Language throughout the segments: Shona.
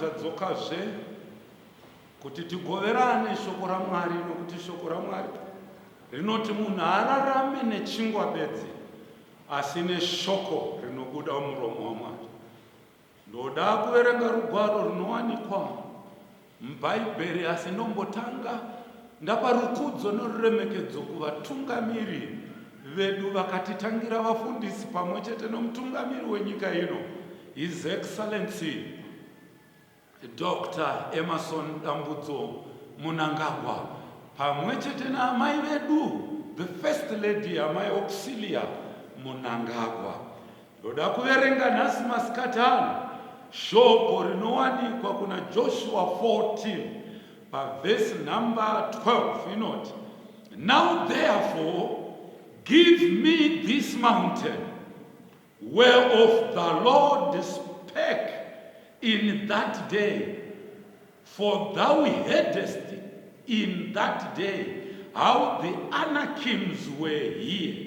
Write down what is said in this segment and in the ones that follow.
tadzokazve kuti tigoverane shoko ramwari nokuti shoko ramwari rinoti munhu haararame nechingwa bedzi asi neshoko rinobuda muromo wamwari Ndoda kuverenga rugwaro runowanikwa muBhaibheri asi ndombotanga ndapa rukudzo noruremekedzo kuvatungamiri vedu vakatitangira, vafundisi pamwe chete nomutungamiri wenyika ino, His Excellency Doctor Emmerson Dambudzo Mnangagwa, pamwe chete naamai vedu, the First Lady Amai Auxillia Mnangagwa. Ndoda kuverenga nhasi masikati ano shoko rinowanikwa kuna Joshua 14 pavhesi nhamba 12 inoti, Now therefore give me this mountain whereof the Lord spake in that day, for thou heardest in that day how the Anakims were here.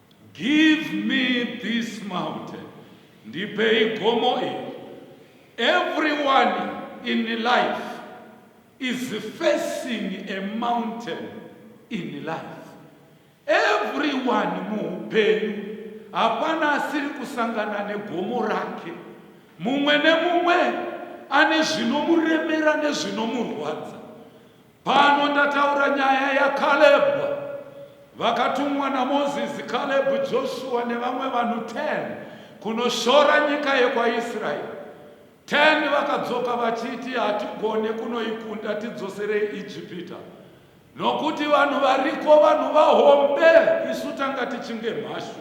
Give me this mountain, ndipei gomo iri. Everyone in life is facing a mountain in life. Everyone muupenyu hapana asiri kusangana negomo rake. Mumwe nemumwe ane zvinomuremera nezvinomurwadza. Pano ndataura nyaya yaKalebhu. Vakatumwa naMozisi, Kalebhu, Joshua nevamwe vanhu 10 kunoshora nyika yekwaIsraeri. 10 vakadzoka vachiti, Hatigone kunoikunda, tidzoserei Ijipita. Nokuti vanhu variko vanhu vahombe, isu tanga tichinge mhashu.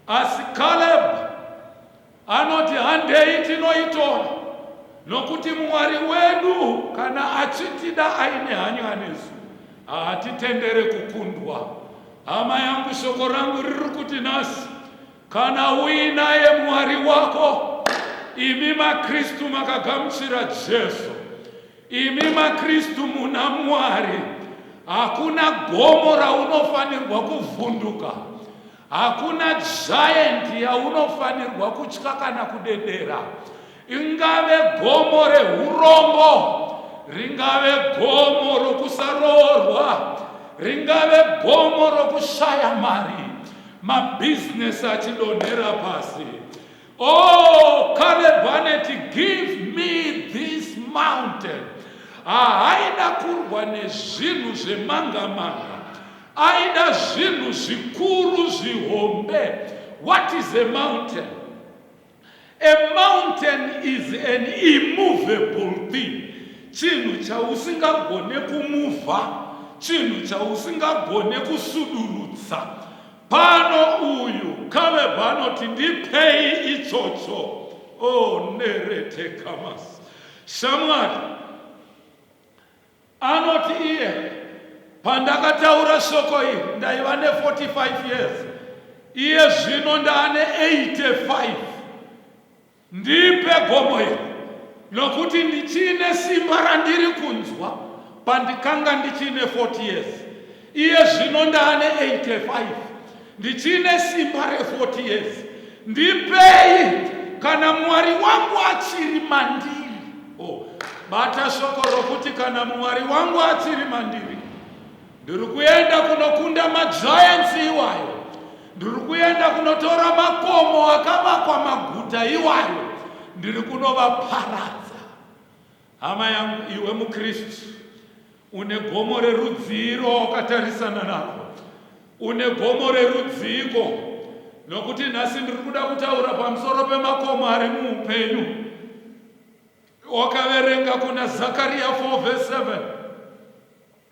Asi Kalebhu Anoti, Handei tinoitora, nokuti Mwari wedu kana achitida aine hanya nesu, haatitendere kukundwa. Hama yangu, shoko rangu riri kuti nhasi, kana uinaye Mwari wako, imi maKristu makagamuchira Jesu, imi maKristu muna Mwari, hakuna gomo raunofanirwa kuvhunduka. Hakuna giant yaunofanirwa kutya kana kudedera. Ingave gomo rehurombo, ringave gomo rokusaroorwa, ringave gomo rokushaya mari, mabhizinesi achidonhera pasi. Oh Caleb aneti give me this mountain haaida kurwa nezvinhu zvemanga manga aida zvinhu zvikuru zvihombe what is a mountain a mountain is an immovable thing chinhu chausingagone kumuvha chinhu chausingagone kusudurutsa Pano uyu Caleb anoti ndipei itsotso. Oh, nerete kamas. Shamwari anoti iye pandakataura shoko iri ndaiva ne45 years iye zvino ndaane 85 Ndipe gomo iri, nokuti ndichine simba randiri kunzwa pandikanga ndichine 40 years. Iye zvino ndaane 85. Ndichine simba re 40 years. Ndipei kana Mwari wangu achiri mandiri. Oh, bata shoko rokuti kana Mwari wangu achiri mandiri. Ndiri kuenda kunokunda magiants iwayo. Ndiri kuenda kunotora makomo akavakwa maguta iwayo. Ndiri kunovaparadza. Hama yangu, iwe muKristu une gomo rerudzii rwawakatarisana narwo? Une gomo rerudziiko? Nokuti nhasi ndiri kuda kutaura pamusoro pemakomo ari muupenyu. Wakaverenga kuna Zakaria 4 verse 7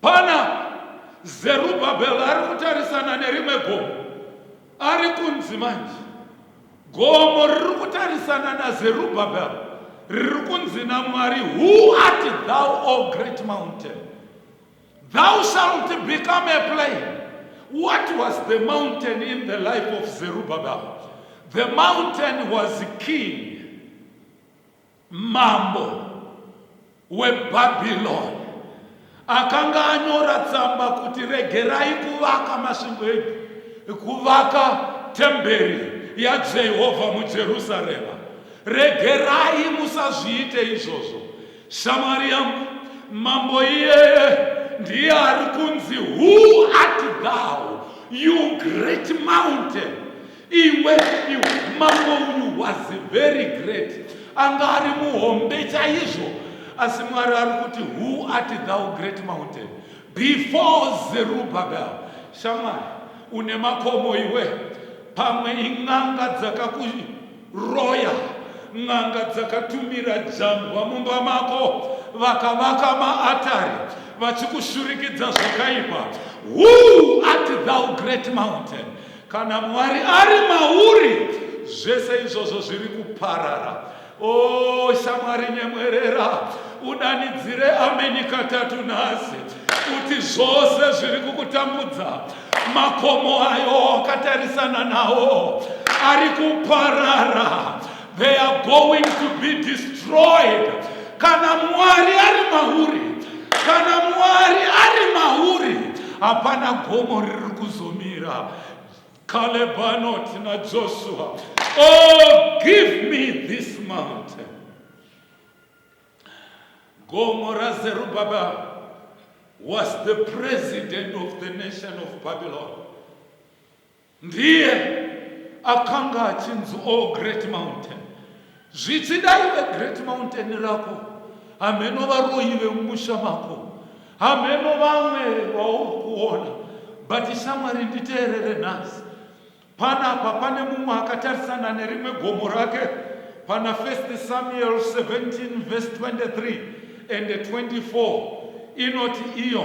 Pana Zerubhabhel ari kutarisana nerimwe gomo. Ari kunzi manje. Gomo riri kutarisana naZerubhabhel riri kunzi naMwari, Who art thou, O great mountain? Thou shalt become a plain. What was the mountain in the life of Zerubbabel? The mountain was king. Mambo weBhabhironi akanga anyora tsamba kuti regerai kuvaka masvingo edu, kuvaka temberi yaJehovha muJerusarema. Regerai musazviite izvozvo. Shamwari yangu, mambo iyeye ndiye ari kunzi who art thou you great mountain Iwe iwe mambo uyu was very great anga ari muhombe chaizvo asi mwari ari kuti who ati thou great mountain before zerubabel shamwari une makomo iwe pamwe in'anga dzakakuroya n'anga dzakatumira jambwa mumba mako vakavaka maatari vachikushurikidza zvakaipa who ati thou great mountain Kana Mwari ari mauri, zvese izvozvo zviri kuparara. O oh, shamwari, nyemwerera, udanidzire ameni katatu nhasi, kuti zvose zviri kukutambudza, makomo ayo wakatarisana nawo ari kuparara. They are going to be destroyed. Kana Mwari ari mauri, kana Mwari ari mauri, hapana gomo riri kuzomira. Caleb anoti naJoshua, oh give me this mountain. Gomo raZerubabel was the president of the nation of Babylon. Ndiye akanga achinzi O Great Mountain. Zvichida iwe Great Mountain rako, hameno varoyi vemumusha mako, hameno vamwe vauri kuona, but shamwari nditeerere nhasi. Panapa pane mumwe akatarisana nerimwe gomo rake pana 1 Samuel 17 verse 23 and 24 inoti iyo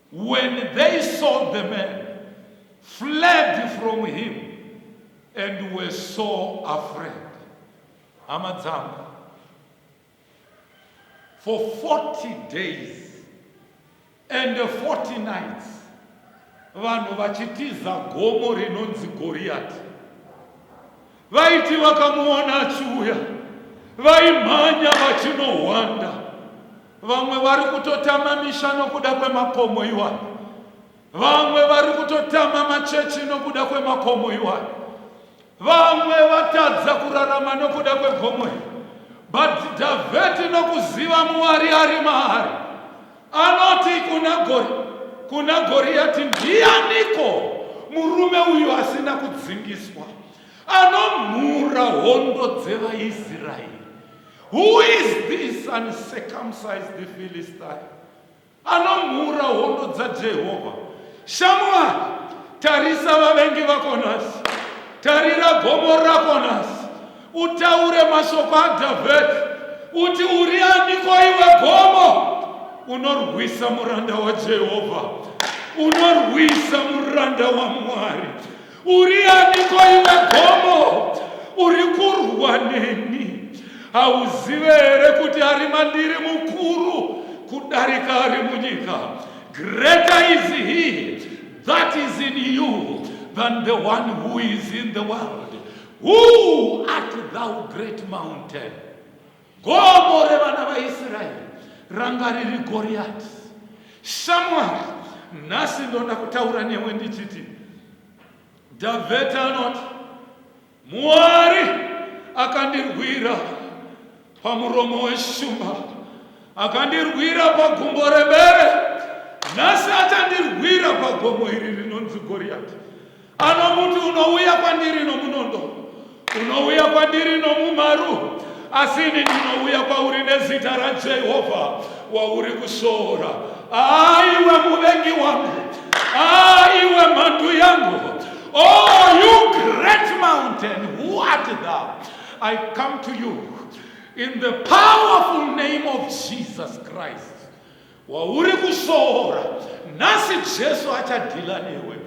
When they saw the man, fled from him, and were so afraid. Hama dzangu, for 40 days and 40 nights, vanhu vachitiza gomo rinonzi Goriati. Vaiti vakamuona achiuya vaimhanya vachinohwanda. Vamwe vari kutotama misha nokuda kwemakomo iwayo. Vamwe vari kutotama machechi nokuda kwemakomo iwayo. Vamwe vatadza kurarama nokuda kwegomo iri. But Dhavheti nokuziva Mwari ari maari Anoti kuna Gori, kuna Goriati, ndianiko murume uyu asina kudzingiswa anomhura hondo dzevaIsraeri? Who is this uncircumcised Philistine anomhura hondo dzaJehovha? Shamwari, tarisa vavengi vako nhasi, tarira gomo rako nhasi Utaure mashoko aDhavhidhi, uti, Uri aniko iwe gomo? Unorwisa muranda waJehovha, unorwisa muranda waMwari. Uri aniko iwe gomo? Uri kurwa neni. Hauzive here kuti ari mandiri mukuru kudarika ari munyika? Greater is he that is in you than the one who is in the world. Who art thou great mountain? Gomo revana vaIsraeri ranga riri Goriati. Shamwari, nhasi ndoda kutaura newe ndichiti Dhavheti anoti Mwari akandirwira pamuromo weshumba akandirwira pagumbo rebere nhasi achandirwira pagomo iri rinonzi goriyati anomuti unouya kwandiri nomunondo unouya kwandiri nomumharu asi ini ndinouya kwauri nezita rajehovha wauri kushoora aiwe muvengi wangu aiwe mhandu yangu oh you great mountain who art thou I come to you in the powerful name of Jesus Christ wauri kushoora nhasi Jesu achadhila newe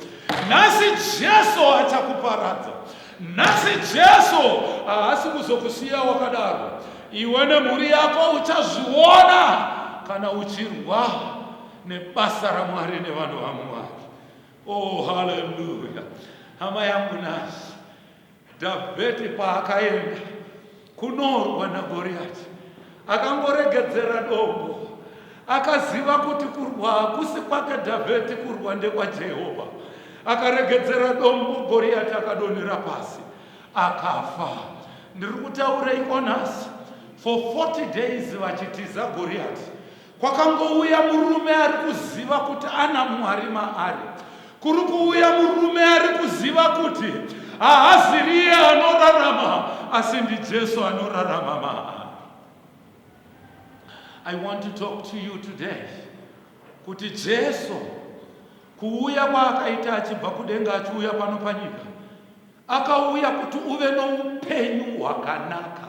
nhasi Jesu achakuparadza nhasi Jesu haasi kuzokusiya wakadaro iwe nemhuri yako uchazviona kana uchirwa nebasa ramwari nevanhu vamwari oh haleluya hama yangu nasi Dhavhidhi paakaenda kunorwa naGoriyati, akangoregedzera dombo. Akaziva kuti kurwa hakusi kwake Dhavhidhi, kurwa ndekwaJehovha. Akaregedzera dombo, Goriyati akadonhera pasi, akafa. Ndiri kutaureiko nhasi? For 40 days vachitiza Goriyati, Kwakangouya murume ari kuziva kuti ana Mwari maari. Kuri kuuya murume ari kuziva kuti haaziriye anorarama asi ndiJesu anorarama maari. I want to talk to you today kuti Jesu kuuya kwaakaita achibva kudenga achiuya pano panyika akauya kuti uve noupenyu hwakanaka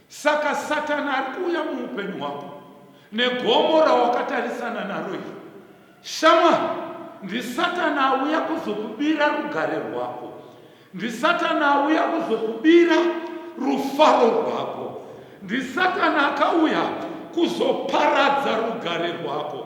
Saka Satani ari kuuya muupenyu hwako negomo rawakatarisana naro iri. Shamwari, ndiSatani auya kuzokubira rugare rwako. NdiSatani auya kuzokubira rufaro rwako. NdiSatani akauya kuzoparadza rugare rwako.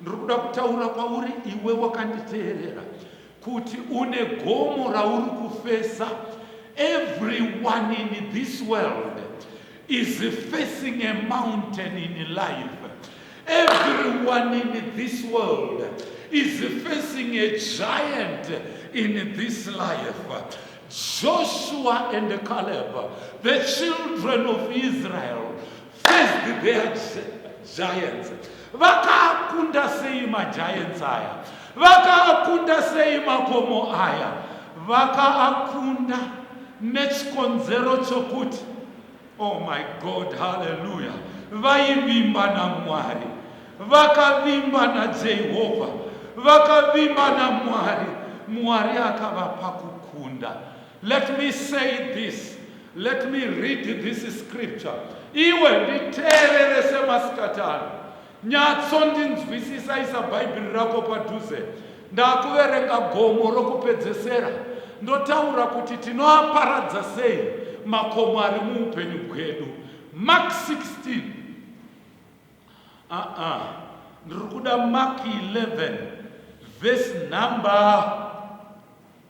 Ndiri kuda kutaura kwauri iwe wakanditeerera kuti une gomo rauri kufesa. Everyone in this world is facing a mountain in life. Everyone in this world is facing a giant in this life. Joshua and Caleb, the children of Israel, As did their giants. Vakaakunda sei magiants aya? Vakaakunda sei makomo aya? Vakaakunda nechikonzero chokuti oh my god haleluya vaivimba namwari vakavimba najehovha vakavimba namwari mwari akavapa kukunda Let me say this. Let me read this scripture. Iwe nditeerere semasikati ano. Nyatsondinzwisisa isa Bhaibheri rako padhuze. Ndakuverenga gomo rokupedzesera. Ndotaura kuti tinoaparadza sei makomo ari muupenyu bwedu. Mark 16. Ah ah. Ndiri kuda Mark 11 verse number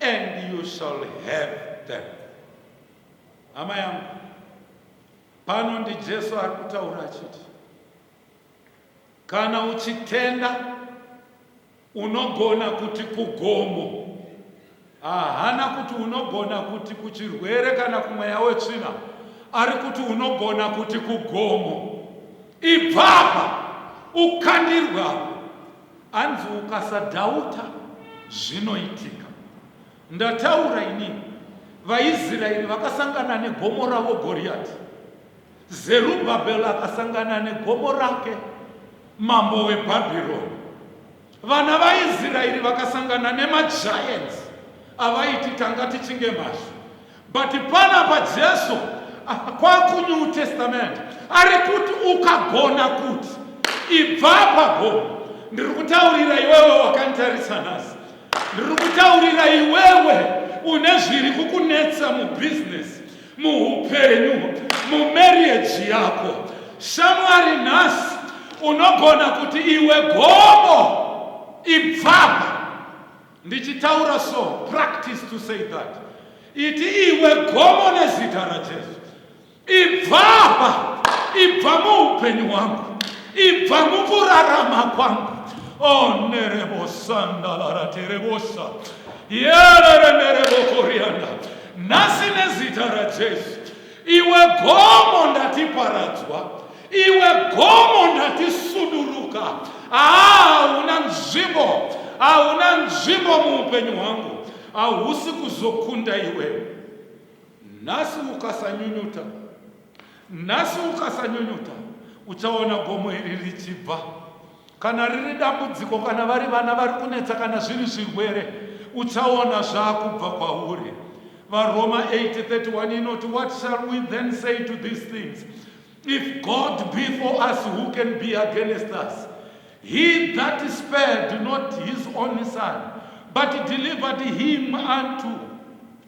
and you shall have them hama yangu pano ndijesu ari kutaura achiti kana uchitenda unogona kuti kugomo ahana kuti unogona kuti kuchirwere kana kumweya wetsvina ari kuti unogona kuti kugomo ibvapa ukandirwa Hanzi ukasadhauta zvinoitika. Ndataura ini, vaIsraeri vakasangana negomo ravo Goriati. Zerubhabhel akasangana negomo rake, mambo weBhabhironi. Vana vaIsraeri vakasangana nemagiants avaiti tanga tichinge mhashu. But panapa Jesu kwaku New Testament ari kuti ukagona kuti ibva apapo ndiri kutaurira iwewe wakanditarisa nhasi ndiri kutaurira iwewe une zviri kukunetsa mubhizinesi muupenyu mumarriage yako shamwari nhasi unogona kuti iwe gomo ibvapa Ndichitaura so, practice to say that. Iti iwe gomo nezita raJesu. Ibva apa, ibva muupenyu hwangu, ibva mukurarama kwangu. Oh, nerebosanda laraterebosa. Yerere nerebokorianda. Nhasi nezita raJesu. Iwe gomo ndati paradzwa, iwe gomo ndati suduruka. Hauna nzvimbo, hauna nzvimbo muupenyu hwangu, hausi kuzokunda iwe. Nhasi ukasanyunyuta, nhasi ukasanyunyuta, uchaona gomo iri richibva. Kana riri dambudziko, kana vari vana vari kunetsa, kana zviri zvirwere, uchaona zvaakubva kwauri. VaRoma 8:31 inoti, What shall we then say to these things? If God be for us, who can be against us? He that spared not his only son, but delivered him unto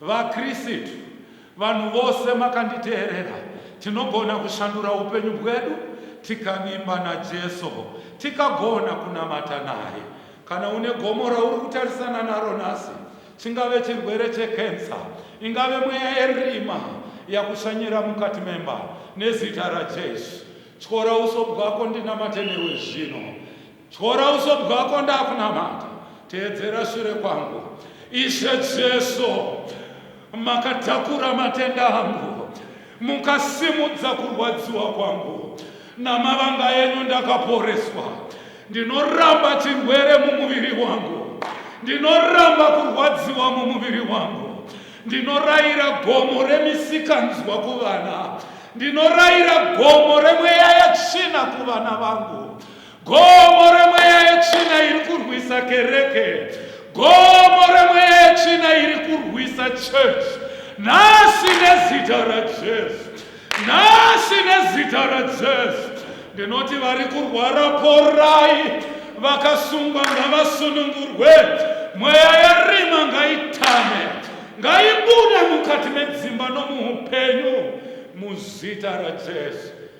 VaKristu, vanhu vose makanditeerera, tinogona kushandura upenyu bwedu tikavimba naJesu, tikagona kunamata naye. Kana une gomo rauri kutarisana naro nhasi, chingave chirwere chekensa, ingave mweya yerima yakushanyira mukati memba, nezita raJesu, tyora uso bwako ndinamate newe zvino. Tyora uso bwako ndakunamata teedzera shure kwangu ishe jesu makatakura matenda angu mukasimudza kurwadziwa kwangu namavanga enyu ndakaporeswa ndinoramba chirwere mumuviri wangu ndinoramba kurwadziwa mumuviri wangu ndinorayira gomo remisikanzwa kuvana ndinorayira gomo remweya yetsvina kuvana vangu Gomo remweya yetsvina iri kurwisa kereke. Gomo remweya yetsvina iri kurwisa church. Nhasi nezita raJesu. Nhasi nezita raJesu. Ndinoti vari kurwara porai. Vakasungwa ngavasunungurwe. Mweya yerima ngaitame. Ngaibude mukati medzimba nomuupenyu. Muzita raJesu.